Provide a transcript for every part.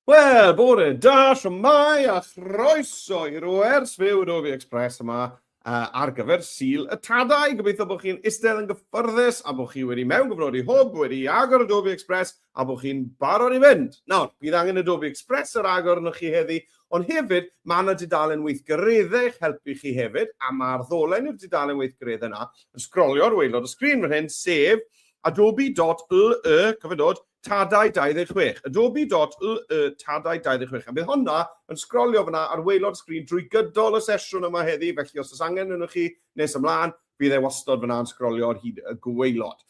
Wel, bore da, siwmai a chroeso i'r wers fyw yn Ofi Express yma uh, ar gyfer Sil y Tadau. Gobeithio bod chi'n istedd yn gyffyrddus a bod chi wedi mewn gyfrod i hwb, wedi agor y Dofi Express a bod chi'n barod i fynd. Nawr, bydd angen y Dofi Express ar agor yno chi heddi, ond hefyd mae yna dudalen weithgareddau eich helpu chi hefyd, a mae'r ddolen i'r dudalen weithgareddau yna yn sgrolio'r weilod y sgrin fan hyn, sef adobe.ly, cofio dod, Tadau 26. Adobe.lll Tadau 26. A bydd honna yn sgrolio fanna ar waelod y sgrin drwy gydol y sesiwn yma heddi, felly os oes angen ynoch chi nes ymlaen, bydd e wastod fanna yn sgrolio ar hyd y gwaelod.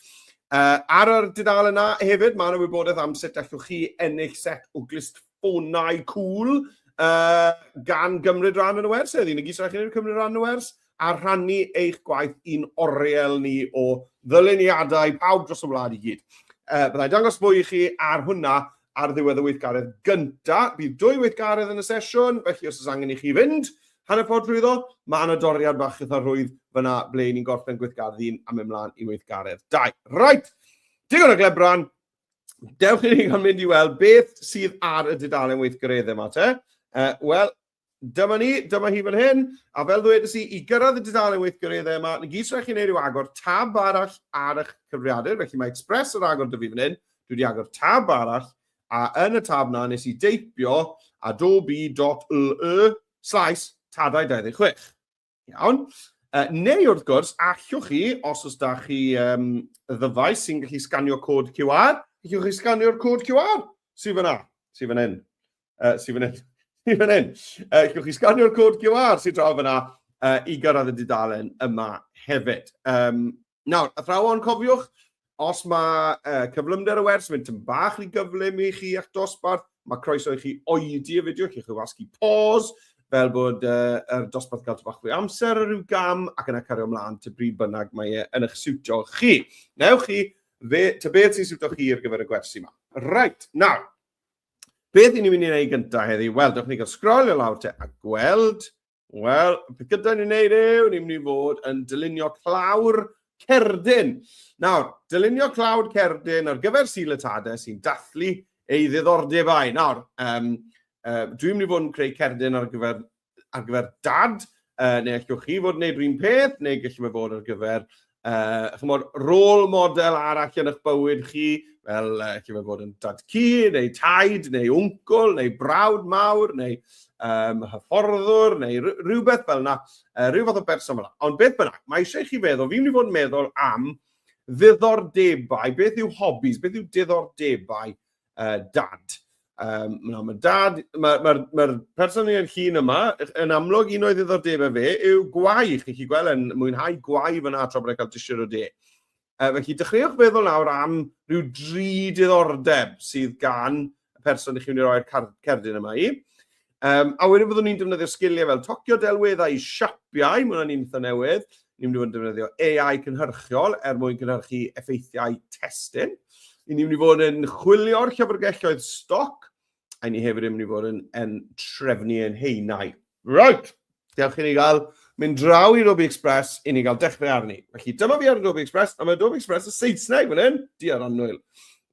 Uh, ar yr dudalen yna hefyd, mae yna wybodaeth am sut allwch chi ennill set o glust ffonau cŵl yy gan gymryd rhan yn y wers heddi. Nag oes rhaid chi cymryd rhan yn y wers a rhannu eich gwaith i'n oriel ni o ddyluniadau pawb dros y wlad i gyd. Uh, byddai dangos fwy i chi ar hwnna ar ddiwedd y weithgaredd gynta. Bydd dwy weithgaredd yn y sesiwn, felly os oes angen i chi fynd hanner ffordd drwy ddo, mae yna doriad bach eitha rhwydd fyna ble ni'n gorffen gweithgaredd un am ymlaen i weithgaredd dau. Right, digon o glebran, Dewch i ni gael mynd i weld beth sydd ar y dudalen weithgareddau yma te. Uh, Wel, dyma ni, dyma hi fan hyn, a fel ddwedais i, i gyrraedd y dudalen weithgareddau yma, na gyd rhaid chi'n ei ryw agor tab arall ar eich cyfriadur, felly mae Express yr agor dyfu fan hyn, dwi wedi agor tab arall, a yn y tab na nes i deipio adobe.ly slaes tadau 26. Iawn. Uh, neu wrth gwrs, allwch chi, os oes da chi um, ddyfais sy'n gallu sganio cod QR, allwch chi sganio'r cod QR sy'n fyna, sy'n fan hyn, uh, sy'n fan hyn, sy'n fan hyn. Uh, allwch chi sganio'r cod QR sy'n draw fyna uh, i gyrraedd y dudalen yma hefyd. Um, Nawr, athrawon, cofiwch, os mae uh, cyflymder y wers yn mynd yn bach rhy gyflym i chi at dosbarth, mae croeso i chi oedi y fideo, chi chi'n wasgu pause, fel bod uh, yr dosbarth gael bach fwy amser ar ryw gam ac yna cario ymlaen ty bryd bynnag mae e yn eich siwtio chi. Newch chi, fe, ty beth sy'n siwtio chi ar gyfer y gwersi yma. Right, nawr, beth i ni'n mynd i'n ei gyntaf heddi? Wel, dewch ni gael sgrolio lawr te a gweld Wel, beth gyda ni'n neud yw, ni'n mynd i fod yn dylunio clawr cerdyn. Nawr, dylunio clawr cerdyn ar gyfer Sil y Tade sy'n dathlu ei ddiddordebau. Nawr, um, uh, dwi'n mynd i fod yn creu cerdyn ar gyfer, ar gyfer dad, uh, neu allwch chi fod yn neud rhywun peth, neu gallwn fe fod ar gyfer uh, chymod, rôl model arall yn eich bywyd chi, fel uh, chi'n bod yn dad cu, neu taid, neu wncl, neu brawd mawr, neu um, hyfforddwr, neu rhywbeth fel yna, uh, rhyw fath o berson fel yna. Ond beth bynnag, mae eisiau chi feddwl, fi'n mynd i fod yn meddwl am ddiddordebau, beth yw hobbies, beth yw diddordebau uh, dad. Um, no, mae dad, mae'r ma, ma, ma person yn llun yma, yn amlwg un o'i ddiddordebau fe yw gwau. Chi'n chi gweld yn mwynhau gwau fyna tra bod e'n cael disio o de. Uh, felly, dechreuwch feddwl nawr am rhyw dri diddordeb sydd gan y person i chi'n mynd i roi'r cerdyn yma i. Um, a wedyn fyddwn ni'n defnyddio sgiliau fel tocio delweddau i siapiau, mae hwnna'n un eitha newydd. Ni'n mynd i fod yn defnyddio AI cynhyrchiol er mwyn cynhyrchu effeithiau testyn. Ni'n mynd i fod yn chwilio'r llyfrgelloedd stoc, a ni hefyd yn mynd i fod yn, yn trefnu yn heinau. Right! Diolch i ni gael mynd draw i Roby Express i ni gael dechrau arni. Felly dyma fi ar y Roby Express, a mae Roby Express y Saesneg fan hyn, di ar annwyl.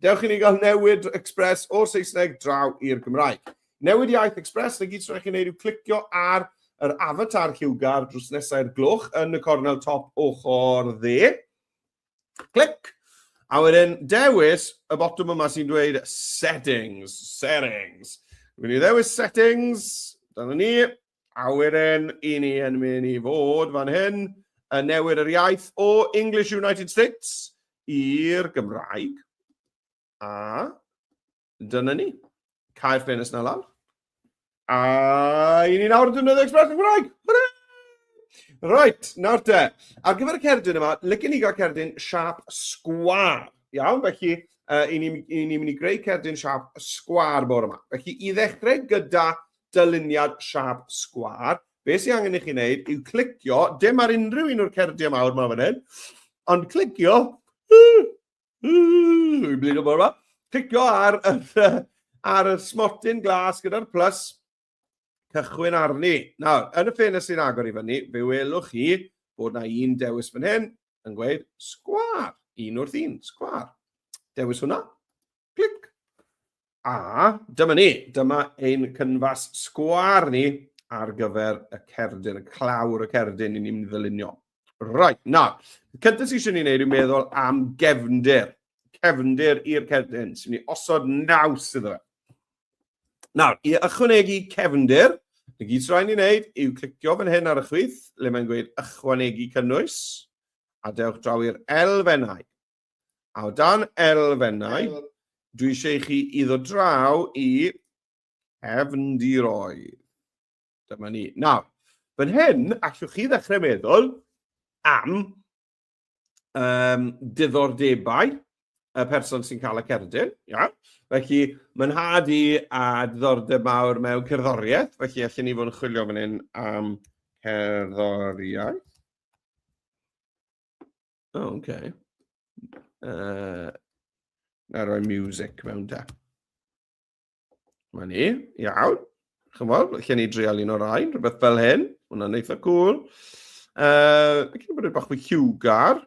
Dewch i ni gael newid Express o'r Saesneg draw i'r Gymraeg. Newid iaith Express, na gyd sy'n rhaid chi wneud yw clicio ar yr avatar lliwgar drws nesau'r gloch yn y cornel top ochr dde. Clic. A wedyn dewis y botwm yma sy'n dweud settings, settings. Rwy'n i ddewis settings, dyna ni. A wedyn i ni yn mynd i fod fan hyn yn newid yr iaith o English United States i'r Gymraeg. A dyna ni. Cael ffenest na lawr. A i ni nawr yn defnyddio Express Cymraeg. Hwrra! Right, nawr te. Ar gyfer y cerdyn yma, lycyn ni gael cerdyn siap sgwar. Iawn, felly uh, i ni'n ni, ni mynd i greu cerdyn siap sgwar bore yma. Felly i ddechrau gyda dyluniad siap sgwar, be sy'n angen i chi wneud yw clicio, dim ar unrhyw un o'r cerdyn mawr yma fan hyn, ond clicio Dwi'n blido bod yma. Cicio ar, ar y smotyn glas gyda'r plus. Cychwyn arni. Nawr, yn y ffenest sy'n agor i fyny, fe welwch chi bod na un dewis fan hyn yn gweud sgwar. Un wrth un, sgwar. Dewis hwnna. Clic. A dyma ni, dyma ein cynfas sgwar ni ar gyfer y cerdyn, y clawr y cerdyn i ni'n mynd i ddylunio. Right, na, cyntaf sy'n eisiau ni'n neud yw meddwl am gefndir. Cefndir i'r cerdyn, sy'n ni osod naws iddo fe. Nawr, i ychwanegu cefndir, y gyd sy'n rhaid ni'n neud yw clicio fan hyn ar y chwith, le mae'n gweud ychwanegu cynnwys, a dewch draw i'r elfennau. A o dan elfennau, dwi eisiau i chi iddo draw i cefndiroedd. Dyma ni. Nawr, fan hyn, allwch chi ddechrau meddwl am um, diddordebau y person sy'n cael y cerdyn. Ia? Felly, mae'n had i a diddordeb mawr mewn cerddoriaeth, felly allan ni fod yn chwilio fan hyn am cerddoriaeth. O, oh, oce. Okay. Uh, na roi music mewn da. Mae ni, iawn. Chymod, lle ni dreol un o'r rhain, rhywbeth fel hyn. Hwna'n eitha cool. Uh, Ac yn bod bach fwy hiwgar.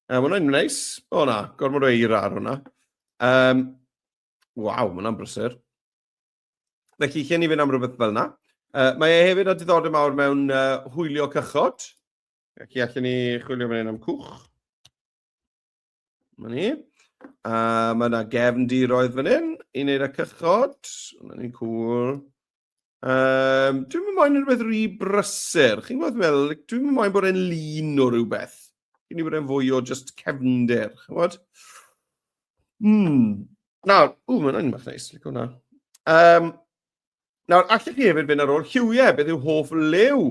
Uh, mae hwnna'n neis. O na, gormod o eira ar hwnna. Um, Waw, mae hwnna'n brysur. Felly, lle ni fynd am rhywbeth fel yna. Uh, mae e hefyd â diddordeb mawr mewn uh, hwylio cychod. Ac i allan ni chwilio fan hyn am cwch. Mae ni. A mae yna gefn diroedd fan hyn i wneud y cychod. Mae ni'n cool. Um, dwi'n mynd moyn rhywbeth rhy brysur. Chi'n gwybod fel, dwi'n mynd moyn bod e'n lun o rhywbeth. Dwi'n mynd bod e'n fwy o just cefndir, chi'n gwybod? Mm. Nawr, ww, mae'n ein bach neis, lic hwnna. Um, Nawr, allech chi hefyd fynd ar ôl lliwiau, beth yw hoff lew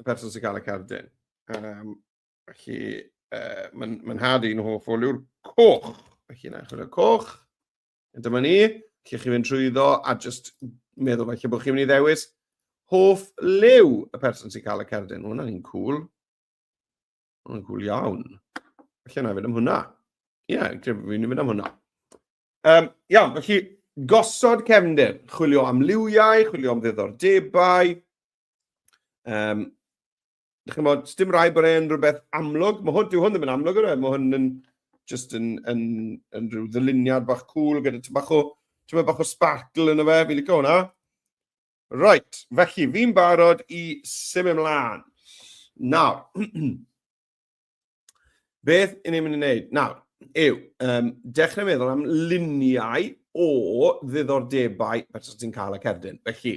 y person sy'n cael y cardyn? Um, felly, uh, mae'n ma nhad i'n hoff o liw'r coch. Felly, na, chwilio coch. Dyma ni, lle chi fynd trwy ddo, a just meddwl felly bod chi'n mynd i ddewis hoff lew y person sy'n cael y cardyn. Hwna'n un cool. Hwna'n cool iawn. Felly, na, fynd am hwnna. Ie, yeah, fi'n mynd am hwnna. Um, iawn, felly gosod cefndir, chwilio am liwiau, chwilio am ddiddordebau. Um, chi'n bod, dim rai bod e'n rhywbeth amlwg. Mae hwn, dyw hwn ddim yn amlwg yna, e? mae hwn yn just yn, yn, yn rhyw ddyluniad bach cool gyda ti'n bach o, ti'n bach o sparkle yn y fe, fi'n licio hwnna. Right, felly fi'n barod i symud ymlaen. Nawr, Beth yn ni'n mynd i wneud? Nawr, yw, um, dechrau meddwl am luniau o ddiddordebau beth ti'n cael y cerdyn. Felly,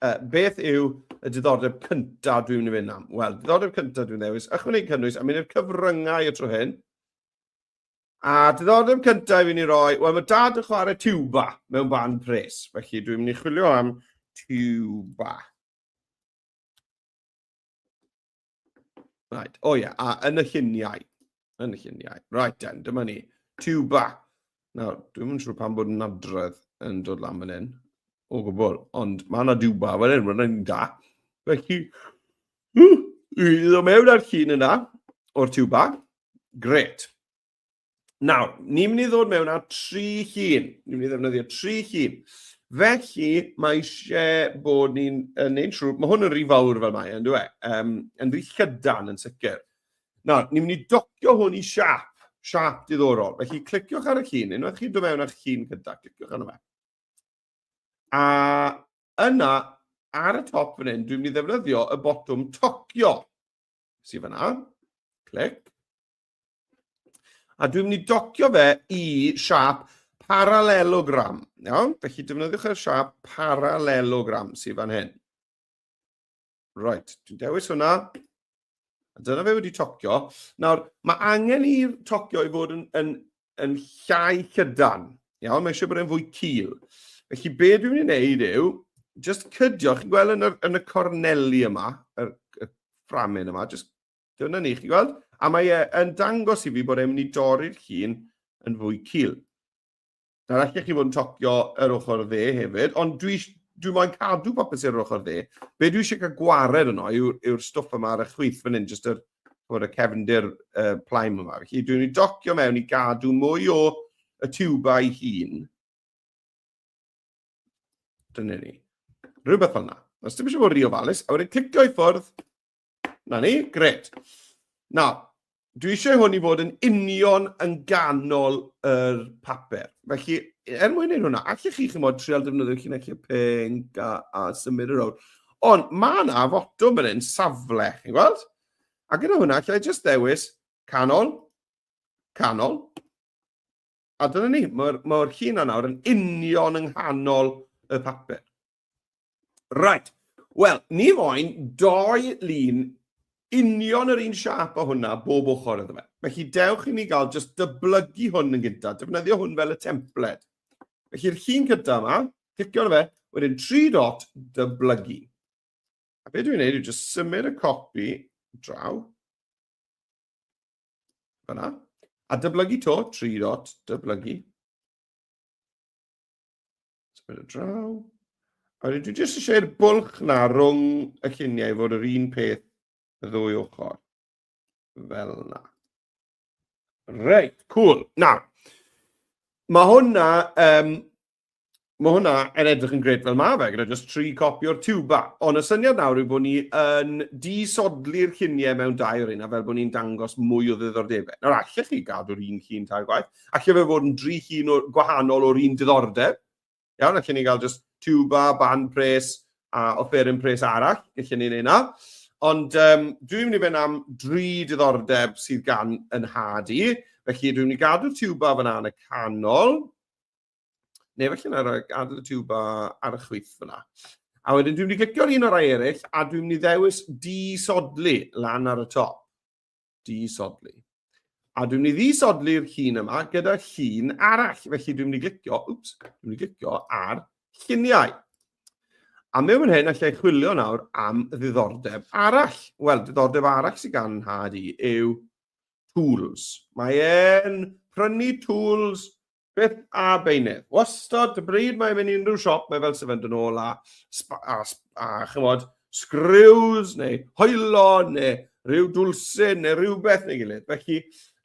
uh, beth yw y diddordeb cyntaf dwi'n mynd i fynd am? Wel, diddordeb cyntaf dwi'n ddewis, ychwanegu cynnwys a mynd i'r cyfryngau y tro hyn. A diddordeb cyntaf fi'n ei roi, wel mae dad yn chwarae tuba mewn band pres, felly dwi'n mynd i chwilio am tuba. Right. O oh, ie, yeah. a yn y lluniau. Yn y lluniau. Right then, dyma ni. Tuba. Nawr, dwi'n mynd siŵr pan bod yn adredd yn dod lan fan hyn. O gwbl. Ond mae yna tuba fan hyn, mae'n yna da. Felly, i ddod mewn â'r llun yna, o'r tuba. Gret. Nawr, ni'n mynd i ddod mewn â tri llun. Ni'n mynd i ddefnyddio tri llun. Felly, mae eisiau bod ni'n neud siŵr, mae hwn yn rhy fawr fel mae, yn dweud, e? Um, yn rhy llydan yn sicr. Nawr, ni'n mynd i docio hwn i siap, siap diddorol. Felly, cliciwch ar y llun, unwaith chi'n dod mewn â'ch llun gyda, cliciwch arno fe. A yna, ar y top fan hyn, dwi'n mynd i ddefnyddio y botwm tocio. Sy'n fyna, clic, A dwi'n mynd i docio fe i siap parallelogram. Iawn? Felly defnyddiwch yr siap parallelogram sydd fan hyn. Right, dwi'n dewis hwnna. A dyna fe wedi tocio. Nawr, mae angen i'r tocio i fod yn, yn, yn llai cydan. Iawn, mae eisiau bod e'n fwy cil. Felly, be dwi'n mynd i wneud yw, just cydio, chi'n gweld yn y, yn y corneli yma, y, y fframyn yma, just Dyna ni, chi gweld? A mae e yn dangos i fi bod e'n mynd i dorri'r llun yn fwy cil. Nawr, allech chi fod yn tocio yr ochr dde hefyd, ond dwi, dwi moyn cadw popeth sy'n yr ochr dde. Be dwi eisiau cael gwared yno yw'r yw stwff yma ar y chwyth fan hyn, jyst yr, bod y cefndir uh, plaim yma. Felly, dwi'n mynd i docio mewn i gadw mwy o y tiwbau hun. Dyna ni. Rhywbeth fel yna. Os dim eisiau bod rhy ofalus, a wedyn clicio i ffwrdd, Na ni, gret. Na, dwi eisiau hwn i fod yn union yn ganol yr papur. Felly, er mwyn ei hwnna, allech chi chymod trial defnyddio llinellau pink a, a symud yr awr. Ond mae yna fotwm yn un safle, chi'n gweld? A gyda hwnna, allai jyst ddewis canol, canol. A dyna ni, mae'r mae llun yna yn union yng nghanol y papur. Right. Wel, ni moyn doi lun union yr un siap o hwnna bob ochr iddo fe. Felly dewch i ni gael just dyblygu hwn yn gyntaf, defnyddio hwn fel y templed. Felly'r llun cyntaf yma, clicio ar fe, wedyn tri dot dyblygu. A beth dwi'n gwneud yw just symud y copi draw. Fyna. A dyblygu to, tri dot dyblygu. Symud y draw. A dwi jyst eisiau'r bwlch na rhwng y lluniau i fod yr un peth y ddwy ochr. Fel na. Reit, cool. Na, mae hwnna, um, mae hwnna yn edrych yn gred fel mae fe, gyda jyst tri copi o'r tiwba. Ond y syniad nawr yw bod ni yn disodli'r lluniau mewn dau o'r un, a fel bod ni'n dangos mwy o ddiddordebau. Nawr, allech chi gadw'r un llun tair gwaith, Alle fe fod yn dri hun o, gwahanol o'r un diddordeb. Iawn, allen ni gael just tuba, band pres a offeryn pres arall. Allen ni wneud na. Ond um, dwi'n mynd i fynd am dri diddordeb sydd gan yn had i. Felly dwi'n mynd i gadw tuba fyna yn y canol. Neu felly na roi gadw tuba ar y chwyth fyna. A wedyn dwi'n mynd i glicio'r un o'r rai eraill a dwi'n mynd i ddewis di-sodlu lan ar y top. disodli. A dwi'n mynd i ddisodli'r llun yma gyda llun arall. Felly dwi'n mynd i glicio, wps, dwi'n mynd i glicio ar lluniau. A mewn hyn, allai chwilio nawr am ddiddordeb arall. Wel, ddiddordeb arall sy'n gan nhad i yw tools. Mae'n prynu tools Beth a beinedd? Wastod, y bryd mae'n mynd i unrhyw siop, mae fel sefynd yn ôl a, a, a chymod, sgriws neu hoelo neu rhyw dwlsyn neu rhywbeth neu gilydd. Felly,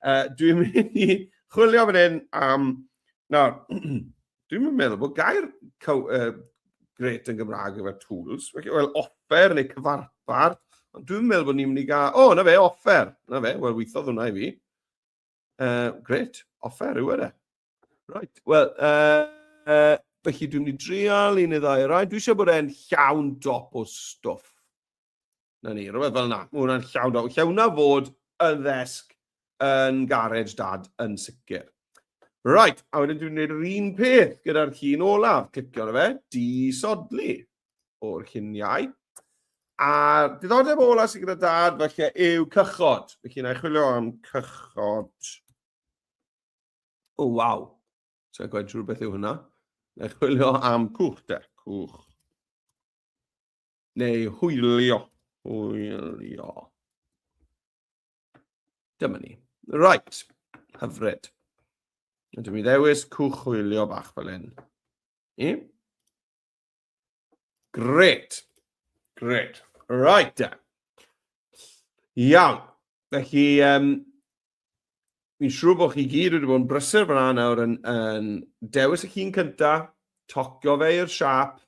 uh, dwi'n mynd i chwilio fan hyn am... Na, dwi'n mynd meddwl bod gair caw, uh, gret yn Gymraeg efo tools. Felly, wel, offer neu cyfarpar. Ond dwi'n meddwl bod ni'n mynd i gael... O, oh, na fe, offer. Na fe, wel, weithodd hwnna i fi. Uh, great. Offer yw yna. E? Right. Wel, uh, uh, felly dwi'n mynd i drial un neu ddau rai. Dwi eisiau bod e'n llawn dop o stwff. Na ni, rhywbeth fel yna. Mae hwnna'n llawn dop. Lle hwnna fod yn ddesg yn garej dad yn sicr. Right, a wedyn dwi'n gwneud yr un peth gyda'r llun olaf. Clicio na fe, disodli. o'r lluniau. A diddordeb ola sydd gyda dad felly yw cychod. Felly na i chwilio am cychod. O, oh, waw. So, gwaith trwy'r beth yw hynna. Na i chwilio am cwch de, cwch. Neu hwylio. Hwylio. Dyma ni. Right. Hyfryd. Ydw i ddewis cwch hwylio bach fel hyn. I? Gret. Gret. Right, da. Iawn. Felly, um, fi'n siŵr bod chi gyd wedi bod yn brysur fyna nawr yn, yn dewis y chi'n cynta, tocio fe i'r siap,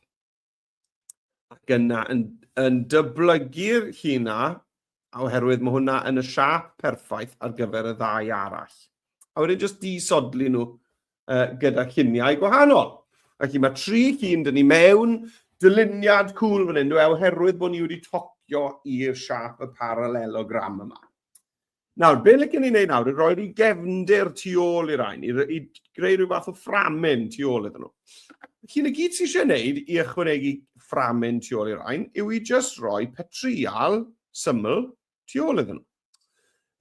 ac yna yn, yn dyblygu'r chi na oherwydd mae hwnna yn y siap perffaith ar gyfer y ddau arall. A wedyn jyst disodli nhw uh, gyda lluniau gwahanol. Felly mae tri llun dyn ni mewn, dyluniad cwl fan hyn, dwi, oherwydd bod ni wedi tocio i'r siap y parallelogram yma. Nawr, be lle gen i wneud nawr, i roi'r i gefndir tu ôl i'r ein, i, i greu rhyw fath o fframyn tu ôl iddyn nhw. Felly, na gyd sydd eisiau gwneud i ychwanegu fframyn tu ôl i'r rhain yw i jyst rhoi petrial syml tu ôl iddyn nhw.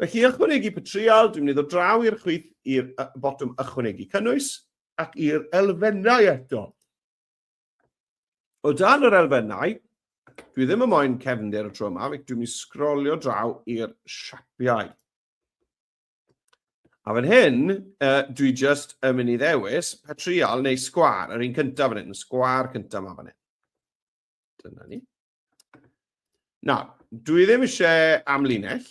Felly, ychwanegu petrial, dwi'n mynd i ddod draw i'r chwith i'r botwm ychwanegu cynnwys ac i'r elfennau eto. O dan yr elfennau, dwi ddim yn moyn cefndir y tro yma, dwi'n mynd i sgrolio draw i'r siapiau. A fan hyn, uh, dwi just yn mynd i ddewis patrial neu sgwar, yr un cyntaf fan hyn, sgwar cyntaf yma fan hyn. Dyna ni. Na, dwi ddim eisiau amlinell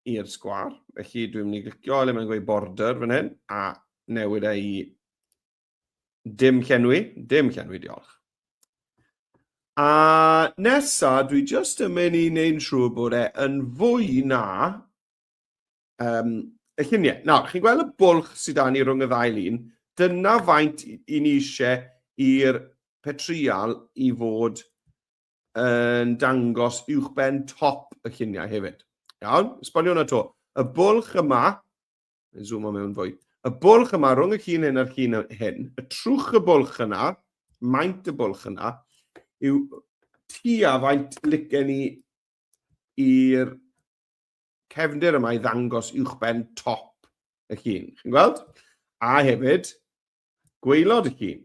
i'r sgwar, felly dwi'n mynd i glicio le mae'n gweud border fan hyn, a newid ei dim llenwi, dim llenwi, diolch. A nesa, dwi just yn mynd i wneud yn siŵr bod e yn fwy na Um, y lluniau. Nawr, chi'n gweld y bwlch sydd â ni rhwng y ddau lun? Dyna faint i ni eisiau i'r petrial i fod yn dangos uwchben top y lluniau hefyd. Iawn, esbonio hwnna to. Y bwlch yma, yn zoom o mewn fwy, y bwlch yma rhwng y llun hyn a'r llun hyn, y trwch y bwlch yna, maint y bwlch yna, yw tua faint licen ni i'r cefndir yma i ddangos uwchben top y llun. Chi'n gweld? A hefyd, gweilod y llun.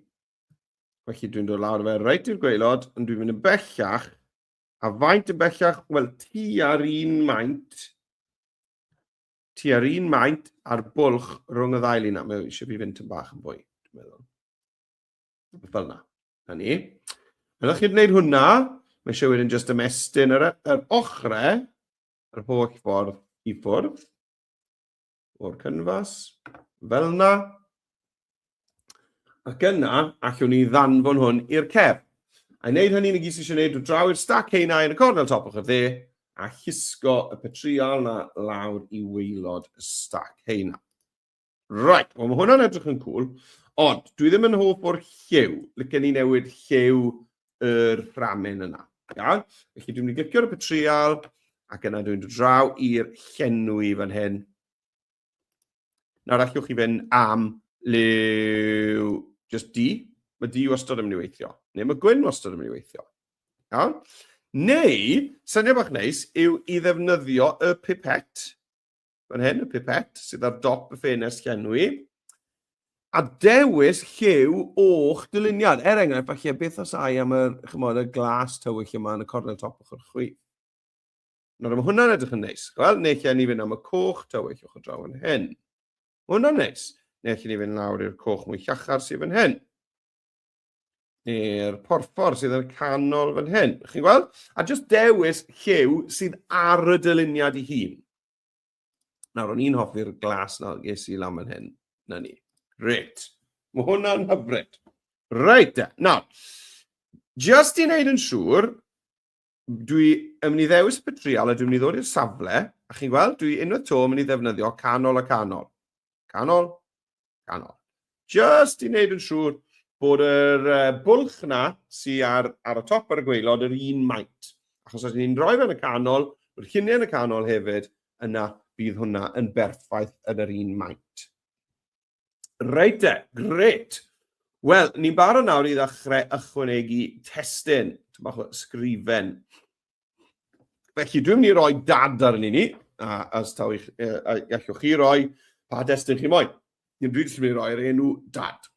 Felly dwi'n dod lawr fe reit i'r gweilod, ond dwi'n mynd yn bellach. A faint yn bellach? Wel, ti ar un maint. Ti ar un maint a'r bwlch rhwng y ddau lun. Mae eisiau fi fynd yn bach yn fwy, dwi'n meddwl. Fel yna. Na ni. Ydych chi'n gwneud hwnna? Mae eisiau wedyn jyst ymestyn yr, yr ochrau, yr holl ffordd i ffwrdd o'r cynfas, fel yna. Ac yna, allwn ni ddanfon hwn i'r cef. A wneud hynny, ni gys eisiau gwneud draw i'r stac heina yn y cornel top o'ch dde, a chysgo y petriol na lawr i weilod y stac heina. Right, wel mae hwnna'n edrych yn cool, ond dwi ddim yn hoff o'r lliw. Lycen ni newid lliw yr rhamen yna. Iawn? Felly dwi'n mynd i glicio ar y petrial, ac yna dwi'n dod draw i'r llenwi fan hyn. Nawr allwch chi fynd am liw just di. Mae di wastad yn mynd i weithio. Neu mae gwyn wastad yn mynd i weithio. Iawn? Neu, syniad bach neis, yw i ddefnyddio y pipet Fan hyn, y pipet sydd ar dop y ffenest llenwi. A dewis lliw o'ch dyluniad. Er enghraifft, falle beth os ai am yr, chymod, y glas tywyll yma yn y cornel top ochr chwi. Nawr, mae hwnna'n edrych yn neis. Wel, neu lle ni fynd am y coch tywyll o'ch draw yn hyn. Mae hwnna'n neis. Neu lle ni fynd lawr i'r coch mwy llachar sydd yn hyn. neu'r porffor sydd yn y canol fan hyn. Chi'n gweld? A jyst dewis lliw sydd ar y dyluniad i hun. Nawr, o'n i'n hoffi'r glas na ges i lan fan hyn. Na ni. Reit. Mae hwnna'n hyfryd. Reit, nawr, jyst i wneud yn siŵr dwi yn mynd i ddewis y petrial a dwi'n mynd i ddod i'r safle, a chi'n gweld, dwi unwaith to yn mynd i ddefnyddio canol a canol. Canol, canol. Just i wneud yn siŵr bod yr uh, bwlch na sy'n ar, ar y top ar y gweilod yr un maint. Achos os ni'n rhoi fe'n y canol, bod lluniau yn y canol hefyd, yna bydd hwnna yn berffaith yn yr un maint. Reit de, gret. Wel, ni'n barod nawr i ddechrau ychwanegu testyn, ti'n bach o sgrifen. Felly, dwi'n mynd i roi dad ar ni, a as taw eich, a gallwch chi roi pa destyn chi moyn. Dwi'n dwi jyst yn mynd i roi'r enw dad.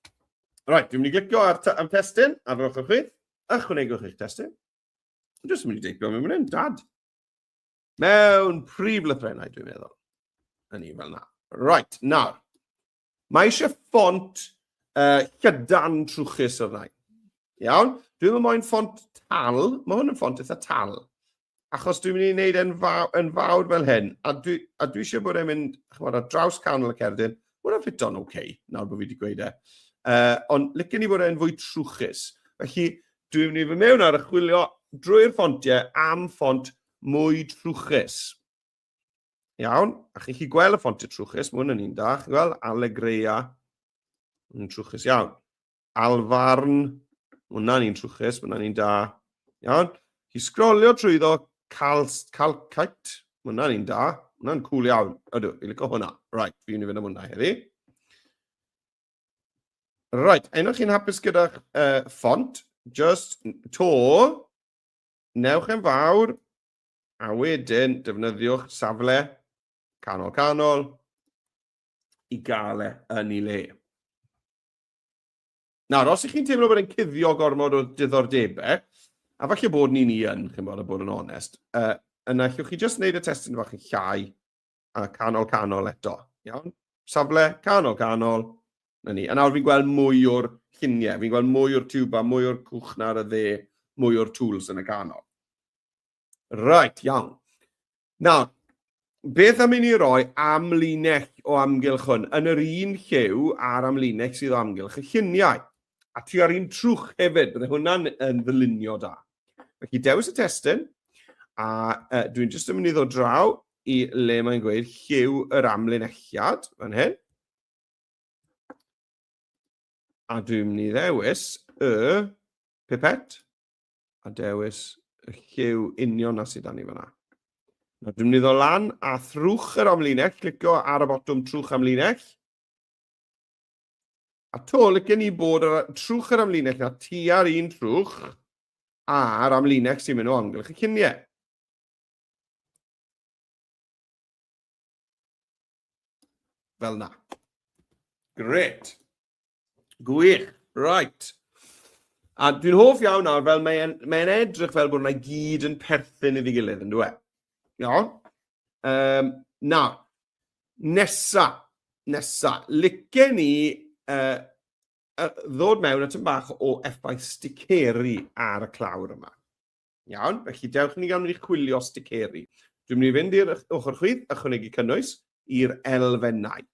Rhaid, dwi'n mynd i glicio ar am testyn, ar yr ochr chwith, ychwanegwch eich testyn. Dwi'n jyst yn mynd i deipio mewn mynd dad. Mewn prif lythrennau, dwi'n meddwl. Yn ni fel na. Right, nawr. Mae eisiau ffont uh, llydan trwchus o'r rhain. Iawn? Dwi'n meddwl mae'n ffont tal. Mae hwn yn ffont eitha tal. Achos dwi'n mynd i wneud yn, faw, yn fawr fel hyn. A dwi, a dwi eisiau bod e'n mynd chymod, ar draws canol y cerdyn. Mae'n hwnna'n ffito'n oce, okay, nawr bod fi wedi gweud e. Uh, ond licen i bod e'n fwy trwchus. Felly, dwi'n mynd i fy mewn ar y chwilio drwy'r ffontiau am ffont mwy trwchus. Iawn, a chi'n chi gweld y ffontiau trwchus, mae hwn yn un da, chi'n gweld, Allegreia, yn trwchus iawn. Alfarn, hwnna'n un trwchus, hwnna'n un da, iawn. Chi sgrolio trwy ddo, Calcite, hwnna'n un da, hwnna'n cool iawn, ydw, fi'n licio hwnna. Right, fi'n mynd i fynd am hwnna heddi. Right, un o'ch chi'n hapus gyda'ch uh, font, just to, Newch yn fawr, a wedyn defnyddiwch safle canol canol i gael e yn ei le. Nawr, os ych chi'n teimlo bod e'n cuddio gormod o diddordebau, a falle bod ni'n i yn, chi'n bod, a bod yn onest, uh, yna allwch chi jyst wneud y testyn fach yn llai, a canol canol eto. Iawn? Safle canol canol, na ni. A nawr fi'n gweld mwy o'r lluniau, fi'n gweld mwy o'r tiwba, mwy o'r cwch na ar y dde, mwy o'r tools yn y canol. Right, iawn. Nawr, beth am i ni roi amlinell o amgylch hwn yn yr un llew a'r amlinell sydd o amgylch y lluniau. A ti ar un trwch hefyd, bydde hwnna'n yn ddylunio da. Felly dewis y testyn, a uh, dwi'n jyst yn mynd i ddod draw i le mae'n gweud lliw yr amlinelliad, fan hyn. A dwi'n mynd i ddewis y pipet a dewis y lliw union na sydd dan ni fanna. Na, dwi'n mynd i ddod lan a thrwch yr amlinell, clicio ar y botwm trwch amlinell. A to, lycen ni bod ar trwch yr amlinell na tua'r un trwch a'r amlinell sy'n mynd o amgylch y lluniau. Fel na. Gret. Gwych. Right. A dwi'n hoff iawn nawr, fel mae'n mae edrych fel bod yna gyd yn perthyn iddi gilydd, yn dweud. Iawn? Um, na, nesa, nesa, lice ni uh, ddod mewn at yn bach o effaith sticeri ar y clawr yma. Iawn, felly dewch i ni gawn ni chwilio sticeri. Dwi'n mynd i fynd i'r ochr chwith, ychwanegu cynnwys i'r elfennau.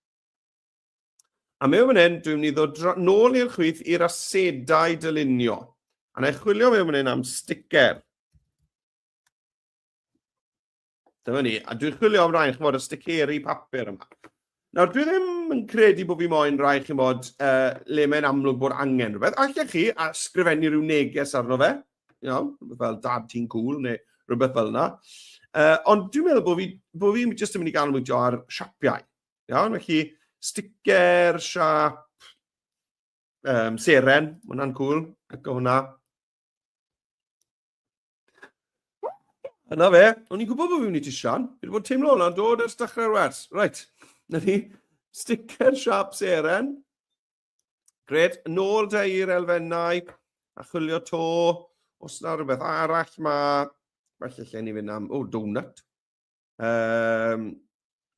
A mewn fan hyn, dwi'n mynd i ddod nôl i'r chwith i'r asedau dylunio. A na i chwilio mewn fan hyn am sticker. Dyma ni. A dwi'n chwilio am rai, chymod, y sticeri papur yma. Nawr, dwi ddim yn credu bod fi moyn rai, chymod, uh, le mae'n amlwg bod angen rhywbeth. Allech chi a sgrifennu rhyw neges arno fe, you know, rhywbeth fel dad ti'n cool neu rhywbeth fel yna. Uh, ond dwi'n meddwl bod fi, bod fi jyst yn mynd i ganolbwyntio ar siapiau. Iawn, felly sticker, siap, um, seren, mae hwnna'n cool, ac o hwnna. Yna fe, o'n i'n gwybod bod fi'n mynd i ti Sian. Fi wedi bod teimlo hwnna'n dod ers dechrau'r wers. Right, na ni. Sticker siap seren. Gred, yn ôl da i'r elfennau a chwilio to. Os yna rhywbeth arall mae... Felly lle ni fynd am... O, oh, donut. Um,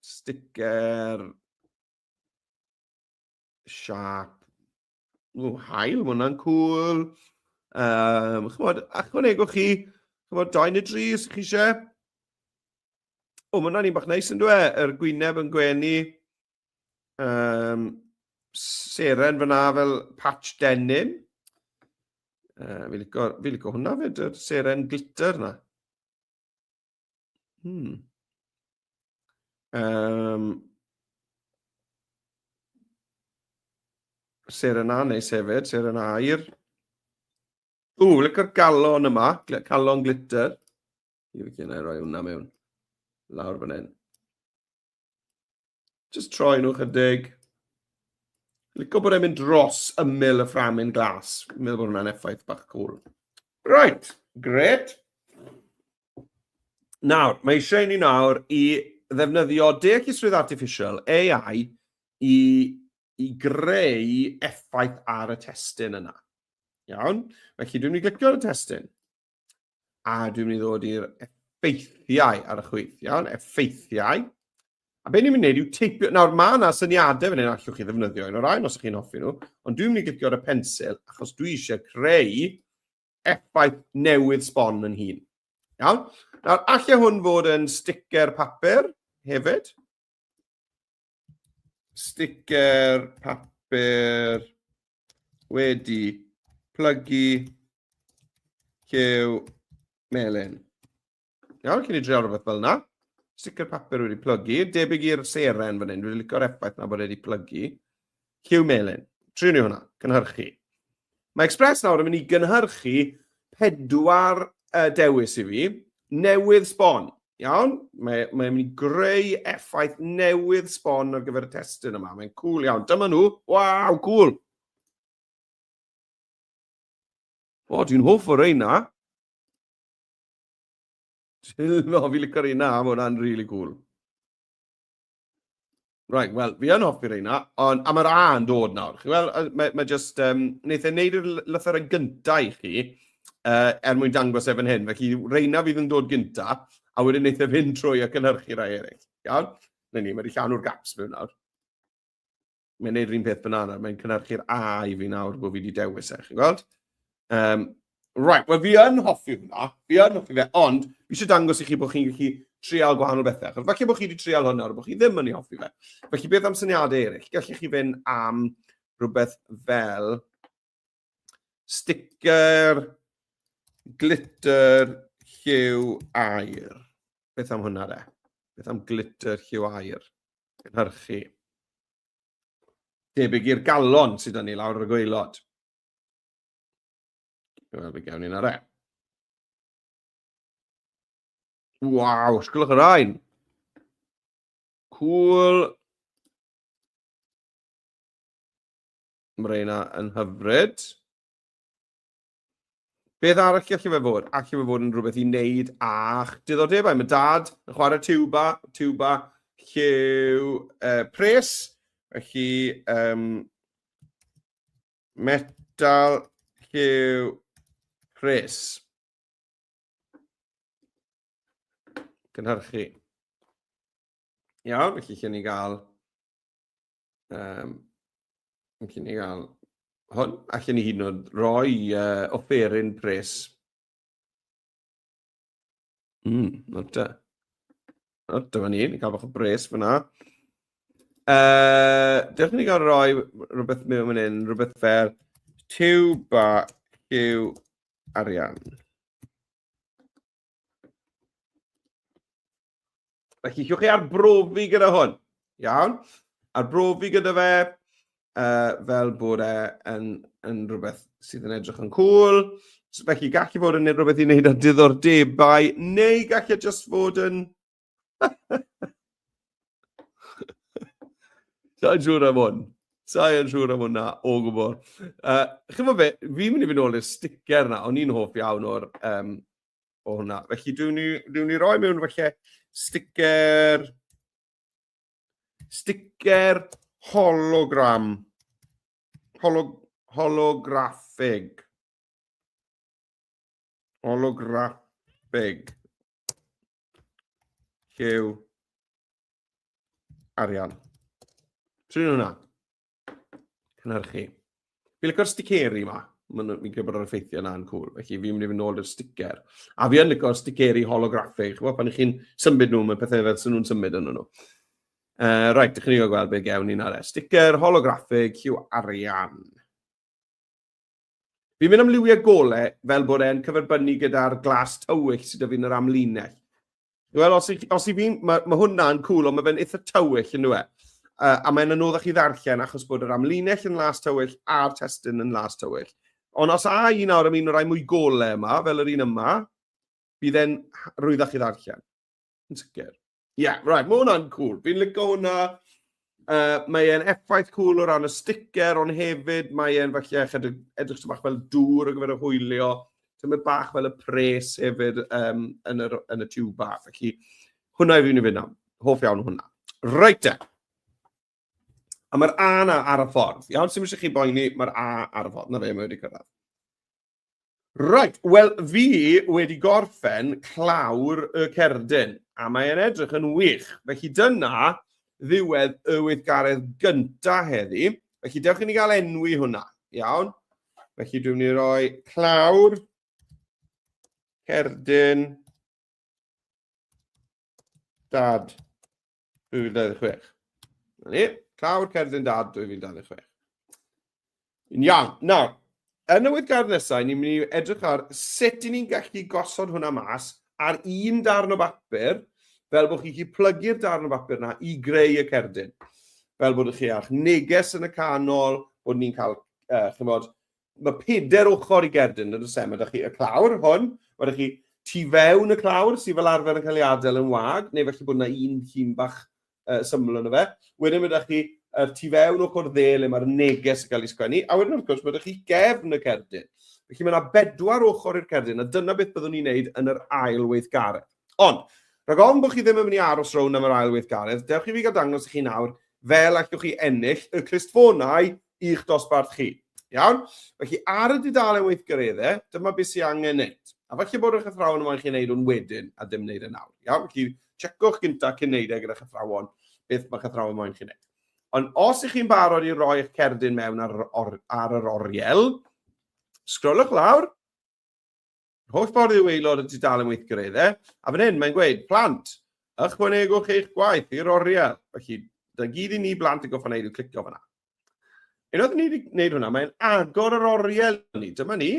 sticker siap Ww, hael, mae hwnna'n cool. Um, chymod, achwanegwch chi, chymod, dau neu dri, os chi eisiau. O, mae hwnna'n un bach neis yn dweud, e? yr gwyneb yn gwenu. Um, seren fyna fel patch denim. Uh, fi licio, fi licio hwnna fyd, yr seren glitter na. Hmm. Um, ser yna neis hefyd, ser yna air. O, lyca'r galon yma, calon glitter. Fi gen i roi hwnna mewn. Lawr fan hyn. Just troi nhw chydig. Lico bod e'n mynd dros ymyl y fframyn glas. Fi'n meddwl bod hwnna'n effaith bach cool. Right, great. Nawr, mae eisiau ni nawr i ddefnyddio deallusrwydd artificial, AI, i, i greu effaith ar y testyn yna. Iawn? Felly, dwi'n mynd i glicio ar y testyn. A dwi'n mynd i ddod i'r effeithiau ar y chwith, iawn, effeithiau. A be ni'n mynd i wneud yw teipio, nawr mae yna syniadau fan hyn allwch chi ddefnyddio un o'r rhain os ych chi'n hoffi nhw, ond dwi'n mynd i glicio ar y pensil achos dwi eisiau creu effaith newydd sbon yn hun. Iawn? Nawr, allai hwn fod yn sticker papur hefyd. sticker papur wedi plygu cew melyn. Iawn, cyn i dreol rhywbeth fel yna. Sticker papur wedi plygu. Debyg i'r seren fan hyn. Dwi'n licio'r effaith na bod wedi plygu. Hugh Melin. Triwn ni hwnna, gynhyrchu. Mae Express nawr yn mynd i gynhyrchu pedwar uh, dewis i fi, newydd sbon. Iawn, mae'n mae mynd i greu effaith newydd sbon ar gyfer y testyn yma. Mae'n cool iawn. Dyma nhw. Waw, cool. O, dwi'n hoff o reina. Dwi'n hoff i licor reina, mae hwnna'n really cool. Right, wel, fi yn hoffi reina, ond am yr a'n dod nawr. Chi wel, mae, mae just, um, wneud e'n neud yr lythyr yn gyntaf i chi, uh, er mwyn dangos efo'n hyn. Felly, reina fydd yn dod gyntaf, a wedyn wneud efo'n trwy ac yn hyrchu rai eraill. Iawn? Na ni, mae wedi llawn o'r gaps mewn nawr. mae'n neud yr un peth banana, mae'n cynhyrchu'r A i fi nawr bod fi wedi dewis e, chi'n gweld? Um, right, wel fi yn hoffi hwnna, fi yn hoffi fe, ond fi eisiau dangos i chi bod chi'n gallu trial gwahanol bethau, achos falle bod chi wedi trial hwnna, bod chi ddim yn ei hoffi fe. Felly beth am syniadau eraill? Gallech chi fynd am rhywbeth fel Sticker, glitter, lliw, air. Beth am hwnna de? Beth am glitter, lliw, air? Cynhyrchu. Debyg i'r galon sydd yn ei lawr ar y gweilod. Wel, fe gawn ni'n ar e. Waw, sgwlwch yr ein. Cool. Mae reina yn hyfryd. Beth arall gallu fe fod? Allu fe fod yn rhywbeth i wneud a'ch diddordebau. Mae dad yn chwarae tuba, tuba lliw uh, pres, felly um, metal lliw pres. Cynhyrchu. Iawn, felly lle ni gael Um, Felly ni gael hwn, allan ni hyd yn oed roi uh, offeryn pres. Mm, not da. Not da fan ni, ni cael bach o bres fyna. Uh, Dewch ni gael roi rhywbeth mewn fan hyn, rhywbeth fel tiw ba yw arian. Felly, chiwch chi arbrofi gyda hwn. Iawn? Arbrofi gyda fe uh, fel bod e yn, yn rhywbeth sydd yn edrych yn cool. So, felly, gall i fod yn rhywbeth i wneud â diddordebau, neu gall e just fod yn... Sa'n siŵr am hwn. Sa'n siŵr am hwnna o gwbl. Uh, Chyfo fe, fi'n mynd i fynd ôl i'r sticker na, o'n i'n hoff iawn o'r um, o hwnna. Felly, dwi'n ni, dwi ni roi mewn felly sticker... Sticker hologram. Holog, holograffig. Holograffig. Llew. Arian. Trin hwnna. cynhyrchu. Fi'n licor sticeri yma. Mae'n fi'n credu bod o'r effeithio yna yn cwl. Felly fi'n mynd i fynd nôl i'r sticker. A fi yn licor sticeri holograffig. Chwa, pan chi'n symud nhw, mae pethau fel sy'n nhw'n symud yn nhw. Uh, right, ydych chi'n gweld beth gewn ni'n ar e. Sticker holograffig Hugh Arian. Fi'n mynd am liwiau gole fel bod e'n cyferbynnu gyda'r glas tywyll sydd 'da fi yn yr amlinell. Wel, os i, os i fi, mae ma hwnna'n cool, ond mae fe'n eitha tywyll yn dweud. Uh, a mae'n anoddach i ddarllen achos bod yr amlinell yn las tywyll a'r testyn yn las tywyll. Ond os a un awr am un o'r rai mwy gole yma, fel yr un yma, bydd e'n rwyddach i ddarllen. Yn sicr. Ie, yeah, right, mae hwnna'n cool. Fi'n licio hwnna. Uh, mae e'n effaith cool o ran y sticker, ond hefyd mae e'n falle edrych, edrych bach fel dŵr o gyfer y hwylio. Tyma bach fel y pres hefyd um, yn, yr, yn y tiw bach. Felly, hwnna i fi'n i fynd am. Hoff iawn hwnna. Reit e. A mae'r A na ar y ffordd. Iawn, sy'n mysig chi boeni, mae'r A ar y ffordd. Na fe, mae wedi cyrraedd. Reit, wel fi wedi gorffen clawr y cerdyn, a mae'n edrych yn wych. Felly dyna ddiwedd y weithgaredd gynta heddi. Felly dewch i ni gael enwi hwnna, iawn? Felly dwi'n mynd i roi clawr cerdyn dad 2026. Na ni, clawr cerdyn dad 2026. Yn iawn. Nawr, yn y weithgardd nesau, ni'n mynd i edrych ar sut i ni'n gallu gosod hwnna mas ar un darn o bapur, fel bod chi'n gallu plygu'r darn o bapur yna i greu y cerdyn. Fel bod chi a'ch neges yn y canol, bod ni'n cael, uh, chymod, Mae peder ochr i gerdyn, yn oes e? Mae da chi y clawr hwn, mae da chi tu fewn y clawr sydd fel arfer yn cael ei adael yn wag, neu felly bod yna un llun bach uh, syml yn y fe. Wedyn mae da chi y tu fewn ochr dde le mae'r neges yn cael ei sgwennu, a wedyn wrth gwrs mae da chi gefn y cerdyn. Felly mae yna bedwar ochr i'r cerdyn, a dyna beth byddwn ni'n neud yn yr ail weithgaredd. Ond, rhag ofn bod chi ddim yn mynd i aros rown am yr ail weithgaredd, dewch i fi gael dangos i chi nawr fel allwch chi ennill y clustfonau i'ch dosbarth chi. Iawn? Felly, ar y dudalen weithgaredde, dyma beth sy'n angen wneud. A falle bod eich athrawon yma yn chi'n neud hwn wedyn a dim neud e nawr. Iawn? Felly, checwch gynta cyn neud e gyda'ch athrawon beth mae'ch athrawon moyn chi'n neud. Ond os ych chi'n barod i roi eich cerdyn mewn ar, or, ar yr oriel, sgrolwch lawr, Yr holl ffordd i'w aelod y dudalen weithgar eiddo, a fan hyn mae'n gweud, plant, ychwanegwch eich gwaith i'r oriel. Felly, da gyd i ni blant y goffa wneud yw clicio fanna. Unwaith ni wedi gwneud hwnna, mae'n agor yr oriel ni. Dyma ni.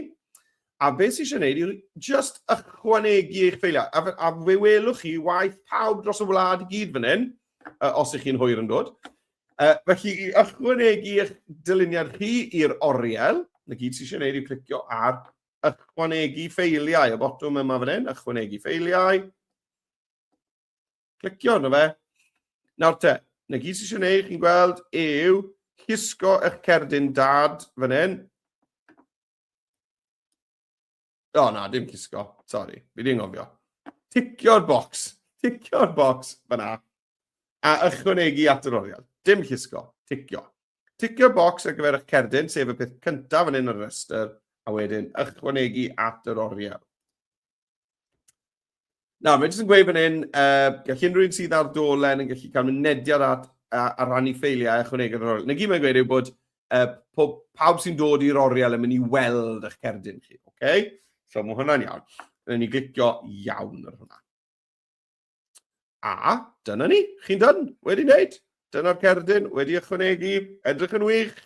A beth sy'n eisiau gwneud yw just ychwanegu eich ffeiliau. A, a fe welwch chi waith pawb dros y wlad i gyd fan hyn, uh, os ych chi'n hwyr yn dod. Uh, felly, i ychwanegu eich dyluniad chi i'r oriel, na gyd sy'n eisiau gwneud yw clicio ar Ychwanegu ffeiliau, y botwm yma fan hyn, ychwanegu ffeiliau. Clicio arno fe. Nawr te, na gyd sy'n eisiau gwneud, chi'n gweld, yw llusgo eich cerdyn dad fan hyn. O na, dim llusgo, sori, fi di'n ngofio. Ticio'r bocs, ticio'r bocs fan hyn. A ychwanegu at yr oriel, dim llusgo, ticio. Ticio'r bocs ar gyfer eich cerdyn, sef y peth cyntaf yn un o'r rhestr, a wedyn ychwanegu at yr oriel. Nawr, mae'n jyst yn gweud fan hyn, uh, gall unrhyw un sydd ar dolen yn gallu cael mynediad at a, a rannu ffeiliau a chwnegod yr oriel. Na gyd mae'n gweud yw bod uh, pob, pawb sy'n dod i'r oriel yn mynd i weld eich cerdyn chi. Okay? So mae hwnna'n iawn. Rydyn ni glicio iawn ar hwnna. A, dyna ni, chi'n dyn, wedi wneud. Dyna'r cerdyn, wedi ychwanegu, edrych yn wych.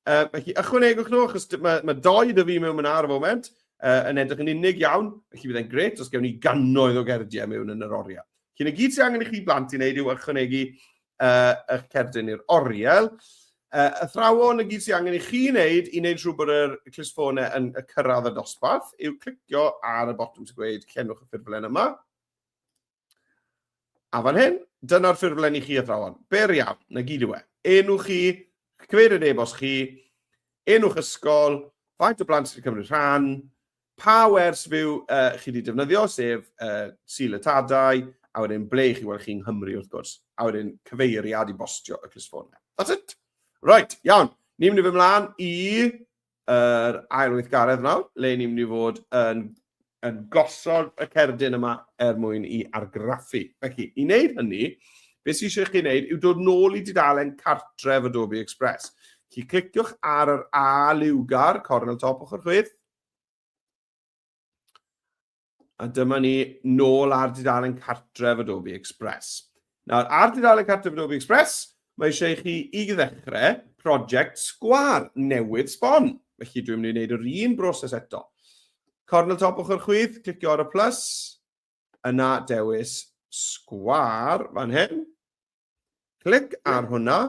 Uh, felly, ychwanegwch nhw, achos mae, mae doi dy fi mewn yna ar y foment, uh, yn edrych yn unig iawn, felly bydd e'n gret os gewn ni gannoedd o gerdiau mewn yn yr oriau. Cyn y gyd sy'n angen i chi blant i wneud yw ychwanegu uh, eich cerdyn i'r oriel. Uh, athrawon y gyd sy'n angen i chi wneud i wneud rhywbeth bod yr clisffonau yn y cyrraedd y dosbarth yw clicio ar y botwm sy'n gweud cenwch y ffurflen yma, A fan hyn, dyna'r ffurflen i chi athrawon. Ber iawn, na gyd yw e. Enw chi, cyfeiriad e-bost chi, enw'ch ysgol, faint o blant sy'n cymryd rhan, pa wers fyw uh, chi wedi defnyddio, sef uh, sil y tadau, a wedyn ble chi weld chi'n Nghymru wrth gwrs, a wedyn cyfeiriad i bostio y clustfôn. That's it. Right, iawn. Ni'n mynd i fy mlaen i yr ail weithgaredd nawr, le ni'n mynd i fod yn, yn gosod y cerdyn yma er mwyn i argraffu. Felly, i wneud hynny, beth sy'n eisiau chi wneud yw dod nôl i dudalen cartref Adobe Express. Felly, cliciwch ar yr A liwgar, cornel top ochr chwith, A dyma ni nôl ar dudalen cartref Adobe Express. Nawr, ar dudalen cartref Adobe Express, mae eisiau i chi i ddechrau prosiect sgwar newydd sbon. Felly dwi'n mynd i wneud yr un broses eto. Cornel top ochr chwith, clicio ar y plus, yna dewis sgwar fan hyn. Clic ar hwnna,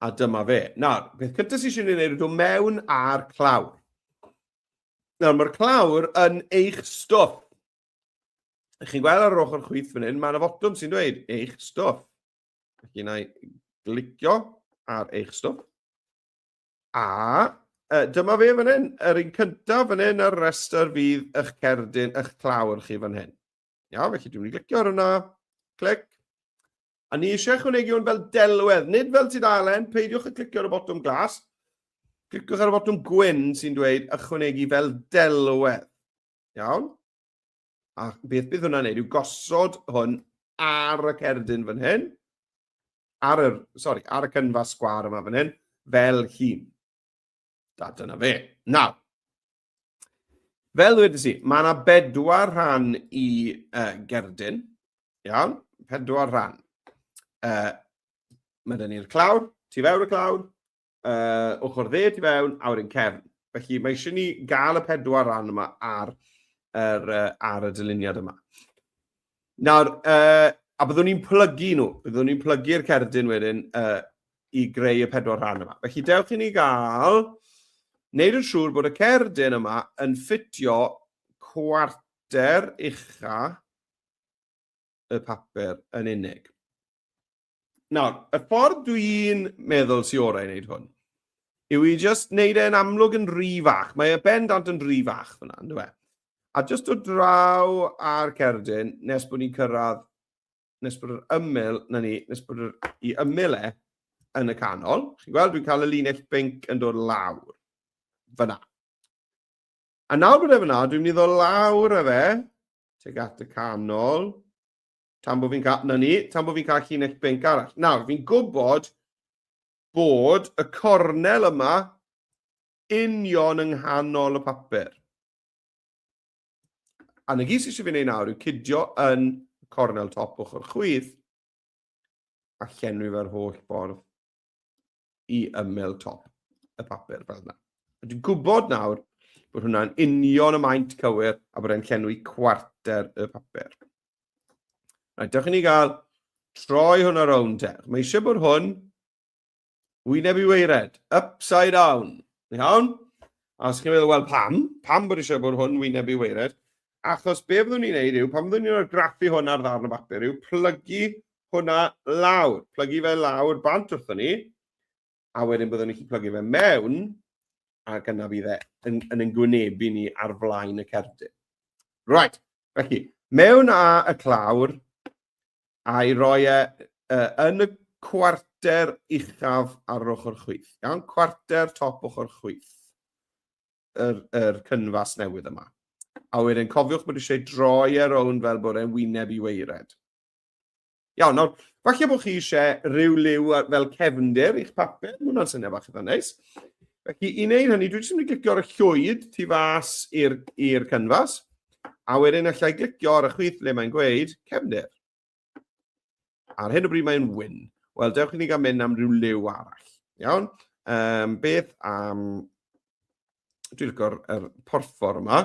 a dyma fe. Nawr, beth cyntaf sy'n eisiau gwneud yw mewn ar clawr. Nawr, mae'r clawr yn eich stwff. Ych chi'n gweld ar yr ochr chwith fan hyn, mae yna fotwm sy'n dweud eich stwff. Felly, na i glicio ar eich stwff. A uh, dyma fe fan hyn, yr un cyntaf fan hyn, yr restr fydd eich cerdyn, eich clawr chi fan hyn. Iawn, felly dwi'n mynd i glicio ar hwnna. Clic. A ni eisiau chwnegu hwn fel delwedd, nid fel tudalen, peidiwch y clicio ar y botwm glas. Cliciwch ar y botwm gwyn sy'n dweud ychwanegu fel delwedd. Iawn? A beth bydd hwnna'n neud yw gosod hwn ar y cerdyn fan hyn, ar y, sorry, ar y cynfa sgwar yma fan hyn, fel hun. Da, dyna fe. Nawr, Fel dweud si, mae yna bedwar rhan i uh, gerdyn. Iawn, pedwar rhan. Uh, mae dyn ni'r clawr, tu fewn y clawr, uh, ochr dde tu fewn, a wedyn cefn. Felly mae eisiau ni gael y pedwar rhan yma ar, ar, uh, ar y dyluniad yma. Nawr, uh, a byddwn ni'n plygu nhw, byddwn ni'n plygu'r cerdyn wedyn uh, i greu y pedwar rhan yma. Felly dewch i ni gael wneud yn siŵr bod y cerdyn yma yn ffitio cwarter ucha y papur yn unig. Nawr, y ffordd dwi'n meddwl sy'n orau i wneud hwn, yw i just wneud e'n amlwg yn rhy fach. Mae e bendant yn rhy fach fyna, yn dweud. A just o draw ar cerdyn, nes bod ni'n cyrraedd, nes bod yr ymyl, na ni, nes bod yr, i ymyl e yn y canol. Chi'n gweld, dwi'n cael y linell binc yn dod lawr. Fyna. A nawr bod e fyna, dwi'n mynd i ddod lawr e fe, teg at y canol, Tan bod fi'n cael... Na ni, tan bod fi'n cael llinell binc arall. Nawr, fi'n gwybod bod y cornel yma union yng nghanol y papur. A na gyd sydd eisiau fi wneud nawr yw cydio yn cornel top ochr chwith a llenwi fe'r holl ffordd i ymyl top y papur fel yna. Dwi'n gwybod nawr bod hwnna'n union y maint cywir a bod e'n llenwi cwarter y papur. Rhaid, dewch i ni gael troi hwnna rownd te. Mae eisiau bod hwn wyneb i weired, upside down. Iawn? A os chi'n meddwl, wel pam? Pam bod eisiau bod hwn wyneb i weired? Achos be fyddwn ni'n neud yw, pan fyddwn ni'n argraffu hwn ar ddarn o bapur, yw plygu hwnna lawr, plygu fe lawr bant wrthyn ni, a wedyn byddwn ni'n plygu fe mewn, ac yna bydd e yn, yn yn gwynebu ni ar flaen y cerdyn. Right, felly, mewn a y clawr, a'i roi e uh, yn y cwarter uchaf ar ochr chwith. Iawn, cwarter top ochr chwith. yr, yr cynfas newydd yma. A wedyn cofiwch bod eisiau droi ar e own fel bod e'n wyneb i weired. Iawn, nawr, falle bod chi eisiau rhyw liw fel cefndir i'ch papur, mae hwnna'n syniad bach eitha neis. Felly, i wneud hynny, dwi jyst yn mynd i glicio ar y llwyd tu fas i'r cynfas, a wedyn allai glicio ar y chwith le mae'n gweud cefndir. Ar hyn o bryd mae'n win. Wel, dewch i ni gael mynd am rhyw liw arall. Iawn? Um, beth am... Dwi'n licor yr er porffor yma.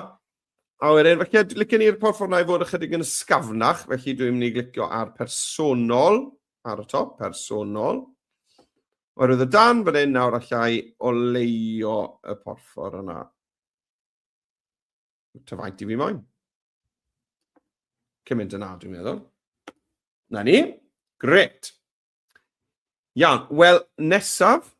A wedyn, felly, licen ni'r porffor yna i fod ychydig yn ysgafnach, felly dwi'n mynd i glicio ar personol, ar y top, personol. Oherwydd y dan fan hyn nawr allai oleio y porffor yna. Ta faint i fi moyn. Cymaint yna, dwi'n meddwl. Na ni. Gret. Iawn, wel, nesaf,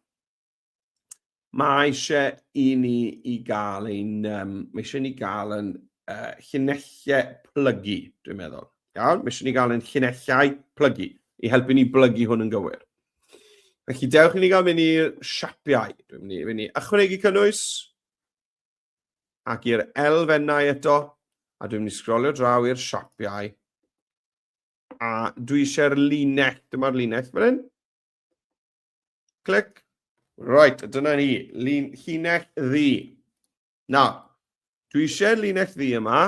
mae eisiau i ni i gael ein, um, mae eisiau ni gael yn uh, llunellau plygu, dwi'n meddwl. Iawn, mae eisiau ni gael ein llunellau plygu, i helpu ni blygu hwn yn gywir. Felly, dewch i ni gael mynd i'r siapiau. Dwi'n mynd i, mynd i ychwanegu cynnwys. ac i'r elfennau eto, a dwi'n mynd i sgrolio draw i'r siapiau, a dwi eisiau'r linell, dyma'r linell fan hyn. Clic. Right, dyna ni, lun, llinell ddi. Na, dwi eisiau'r linell ddi yma